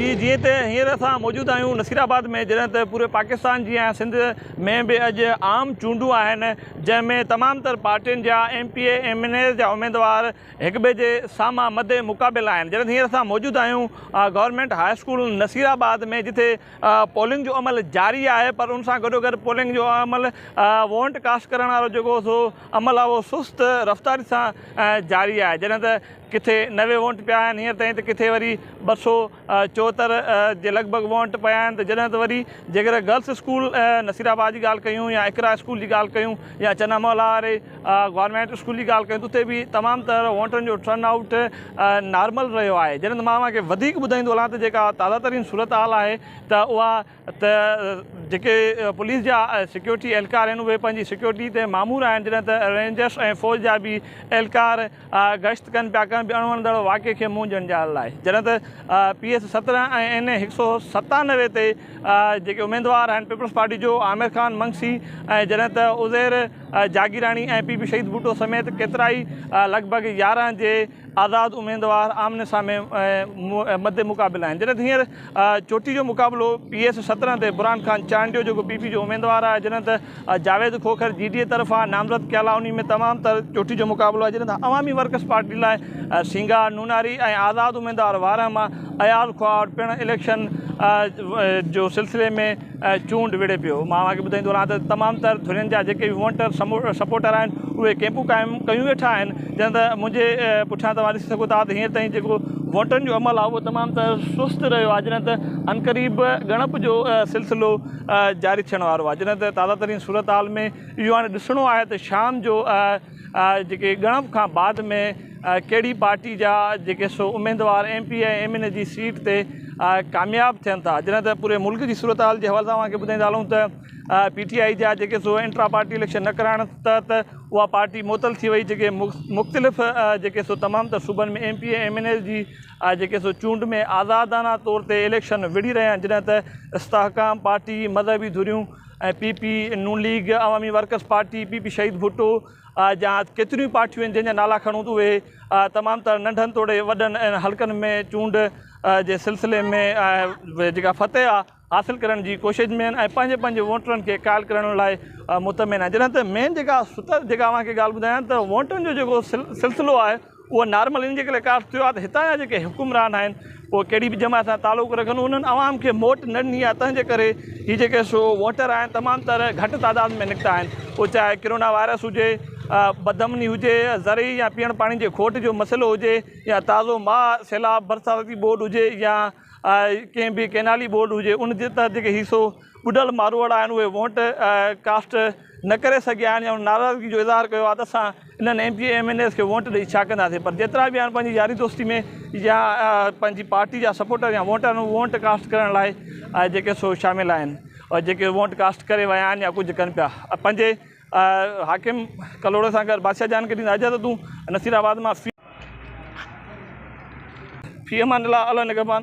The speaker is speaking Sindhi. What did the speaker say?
جي جيئن ته هينئر اسان موجود آهيون نصير آباد ۾ جڏهن ته پوري پاڪستان جيان سنڌ ۾ به اڄ عام چونڊون آهن جنهن ۾ تمام تر پارٽين جا M P A M N As جا اميدوار هڪ ٻئي جي سامهان مد مقابل آهن جڏهن ته هينئر اسان موجود آهيون government high school Nasirabad ۾ جتي پولنگ جو عمل جاري آهي پر ان سان گڏو گڏ پولنگ جو عمل وونٽ ڪاسٽ ڪرڻ وارو جيڪو سو عمل آهي اهو سست رفتاري سان جاري آهي جڏهن ته ڪٿي نوي وونٽ پيا آهن هينئر تائين ته ڪٿي وري ٻه سؤ چوهتر جي لڳ ڀڳ وونٽ پيا آهن ته جڏهن ته وري جيڪڏهن گرلس اسڪول نصير آباد جي ڳالهه ڪيون يا اقرا اسڪول جي ڳالهه ڪيون يا چنا مولا واري گورنمينٽ اسڪول جي ڳالهه ڪيون ته اتي به تمام تر وونٽن جو ٽرن آئوٽ نارمل رهيو آهي جڏهن ته مان اوهان کي وڌيڪ ٻڌائيندو هلان ته جيڪا تازه ترين صورتحال آهي ته اها ته جيڪي پوليس جا سيڪيورٽي اهلڪار آهن اهي پنهنجي سيڪيورٽي تي مامور آهن جڏهن ته رينجرس ۽ فوج جا به اهلڪار گشت ڪن پيا ڪنهن به اڻ وڻندڙ واقعي کي منهن ڄڻجائڻ لاء جڏهن ته پي ايس سترهن ۽ اين اي هڪ سؤ ستانوي تي جيڪي اميدوار آهن پيپلز پارٽي جو عامر خان منگسي ۽ جڏهن ته عزير جاگيراڻي ۽ پي پي شهيد ڀٽو سميت ڪيترائي لڳ ڀڳ يارهن جي آزاد اميدوار آمني سامي مد مقابل آهن جڏهن ته هينئر چوٽي جو مقابلو پي ايس سترهن تي برهان خان چانڊيو جيڪو پي پي جو اميدوار آهي جڏهن ته جاويد کوکر جي ڊي اي طرفان نامزد ڪيل آهي انهي ۾ تمام تر چوٽي جو مقابلو آهي جڏهن ته عوامي ورڪرس پارٽي لاء سينگار نوناري ۽ آزاد اميدوار وارهه مان اياز کهاوڙ پڻ اليڪشن جو سلسلي ۾ چونڊ وڙهي پيو. مان اوهان کي ٻڌائيندو رهان ته تمام تر ڌرين جا جيڪي به وونٽر سپورٽر آهن اهي ڪئمپون قائم ڪيون ويٺا آهن جڏهن ته منهنجي پٺيان توهان ڏسي سگهو ٿا ته هينئر تائين جيڪو وونٽرن جو عمل آهي اهو تمام تر سست رهيو آهي جڏهن ته عنقريب ڳڻپ جو سلسلو جاري ٿيڻ وارو آهي جڏهن ته تازه ترين صورتحال ۾ اهو هاڻي ڏسڻو آهي ته شام جو جيڪي ڳڻپ کان بعد ۾ ڪهڙي پارٽي جا جيڪي سو اميدوار M P ۽ M N A جي سيٽ تي ڪامياب ٿين ٿا جڏهن ته پوري ملڪ جي صورتحال جي حوالي سان اوهان کي ٻڌائيندا هلون ته پي ٽي آئي جا جيڪي سو انٽرا پارٽي اليڪشن نه ڪرائڻ تحت اها پارٽي معطل ٿي وئي جيڪي مختلف جيڪي سو تمام تر صوبن ۾ M P ۽ M N A جي جيڪي سو چونڊ ۾ آزادانه طور تي اليڪشن وڙهي رهيا آهن جڏهن ته استحڪام پارٽي مذهبي ڌريون ۽ P P, Noon league, Awami workers party, P P Shaheed Bhutto جا ڪيتريون ئي پارٽيون آهن جنهن جا نالا کڻون ته اهي تمام تر ننڍن توڙي وڏن حلقن ۾ چونڊ جي سلسلي ۾ جيڪا فتح آهي حاصل ڪرڻ جي ڪوشش ۾ آهن ۽ پنهنجي پنهنجي ووٽرن کي قائل ڪرڻ لاء مطمئن آهن جڏهن ته مين جيڪا ستر جيڪا اوهان کي ڳالهه ٻڌايان ته ووٽن جو جيڪو سلسلو آهي اهو نارمل ان جي ڪري ڪاٺ ٿيو آهي ته هتان جا جيڪي حڪمران آهن اهي ڪهڙي به جماعت سان تعلق رکن انهن عوام کي موٽ نه ڏني آهي تنهن جي ڪري هي جيڪي سو ووٽر آهن تمام تر گهٽ تعداد ۾ نڪتا آهن پوء چاهي ڪرونا وائرس هجي بد امني هجي زرعي يا پيئڻ پاڻي جي کوٽ جو مسئلو هجي يا تازو ماء سيلاب برساتي ٻوڏ هجي يا ڪنهن به ڪئنالي بورڊ هجي ان جي تحت جيڪي هي سو ٻڏل ماروئڙا آهن اهي وونٽ ڪاسٽ نه ڪري سگهيا آهن يا ناراضگي جو اظهار ڪيو آهي ته اسان انهن M P A M N as کي وونٽ ڏئي ڇا ڪنداسين پر جيترا به آهن پنهنجي ياري دوستي ۾ يا پنهنجي پارٽي جا سپورٽر يا وونٽر وونٽ ڪاسٽ ڪرڻ لاء جيڪي سو شامل آهن ۽ جيڪي وونٽ ڪاسٽ ڪري ويا آهن يا ڪجهه ڪن پيا پنهنجي حاڪم ڪلهوڙي سان گڏ بادشاهه جان کي ڏيندا اجازتون نصير آباد مان في امان الله الله نگهبان.